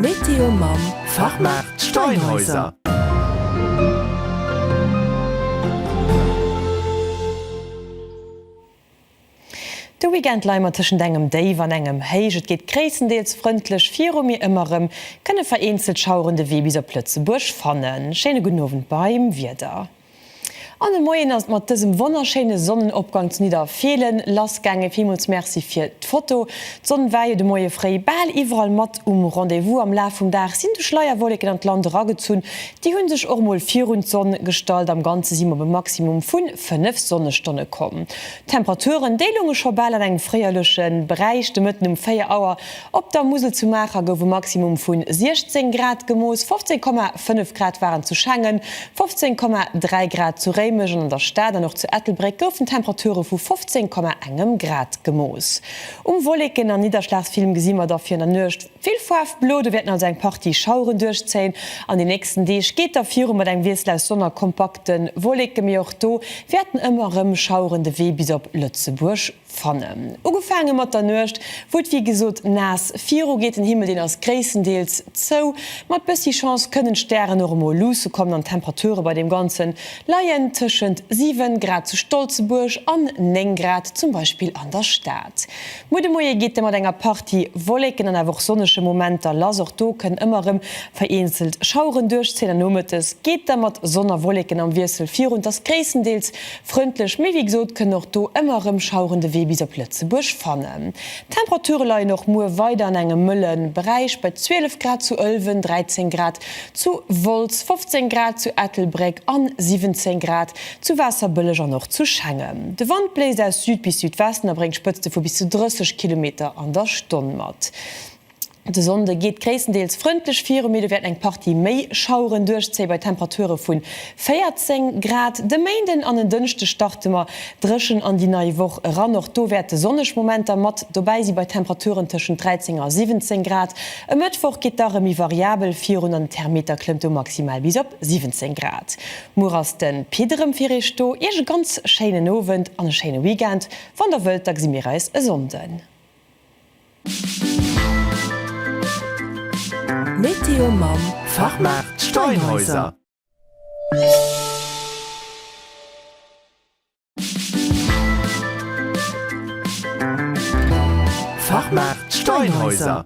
Météo mam Fachmaart Steinhäuser. De Weekend leie mer tëschent engem Déif an engem Héich. Et geet gréisstendeels frëndlech viru, mee ëmmer erëm kënne vereenzelt Schaueren de Wee bis op Lëtzebuerg fannen. Schéine gudden Owend beim Wieder. An e Moien ass et mat dësem wonnerschéine Sonnenopgang zu Nidderfeelen lass gaangen. Villmools Merci fir d'Foto. D'Sonn war jo de Moie fréi bal iwwerall mat um Rendez-vous. Am Laf vum Dag sinn du Schleierwolleken an d'Land eragezunn. Déi hunn sech och mol virun d'Sonn gestallt. Am Ganze si mer op e Maximum vun 5 Sonnestonne komm. D'Temperaturen, déi lounge scho bal an engem fréierleche Beräich. De Mëtten um 4 Auer Op der Musel zu Maacher gouf e Maximum vu 16 Grad gemooss, 15,5 Grad waren zu Schengen, 15,3 Grad zu Réimech an an der Stad an och zu Ettelbréck goufen Temperature vu 15,1 Grad gemooss. Um Wolleken a Nidderschlagsfilm gesi mer dofir an der Nuecht vill Faarf blo, do wäerten also eng Partie Schaueren duerchzéien. An den nächsten Deeg geet da viru mat engem Wiessel aus Sonn a kompakte Wolleke, mee och do wäerten ëmmer erëm Schaueren de Wee bis op Lëtzebuerg Fannen. Ugefaange mat der Nuecht, wou et wéi gesot naass viru geet. Den Himmel, deen ass gréisstendeels zou. Mat bëssi Chance kënnen d'Stären och emol luusse kommen an d'Temperature bei deem Ganze leien tëschent 7 Grad zu Stolzebuerg an 9 Grad zum Beispill an der Stad. Muer de Moie geet da mat enger Partie Wolleken an awer och sonnege Momenter lass. Och do kënnen ëmmer erëm vereenzelt Schaueren duerchzéien an nomëttes geet da mat Sonn a Wolleken am Wiessel virun. Et ass gréisstendeels Frëndlech mee wéi gesot kënnen och do ëmmer erëm Schaueren de Wee bis op Lëtzebuerg fannen. D'Temperature leien och muer weider an engem mëlle Beräich bei 12 Grad zu Ëlwen, 13 Grad zu Wolz, 15 Grad zu Ettelbréck an 17 Grad zu Waasserbëlleg an och zu Schengen. De Wand bléist aus Süd bis Südwesten a bréngt Spëtzte vu bis zu 30 Kilometer an der Stonn mat. De Sonnde geet gréisstendeels frëndlech viru, mee do wäerten eng Partie méi Schaueren duerchzéie bei Temperature vu 14 Grad. De Méinden an en Dënschde starte mer dréchen an déi nei Woch eran. Och do wäerte sonneg Momenter mat dobäi si bei Temperaturen tëschent 13 a 17 Grad. E Mëttwoch geet da rëm méi variabel virun an den Thermeter klëmmt do maximal bis op 17 Grad. Muer ass de Pit erëm fir Iech do. Iech e ganz schéinen Owend an e schéine Weekend. Wann der wëllt, da gesi mir eis e Sonnden. Météo mam Fachmaart Steinhäuser. Fachmaart Steinhäuser.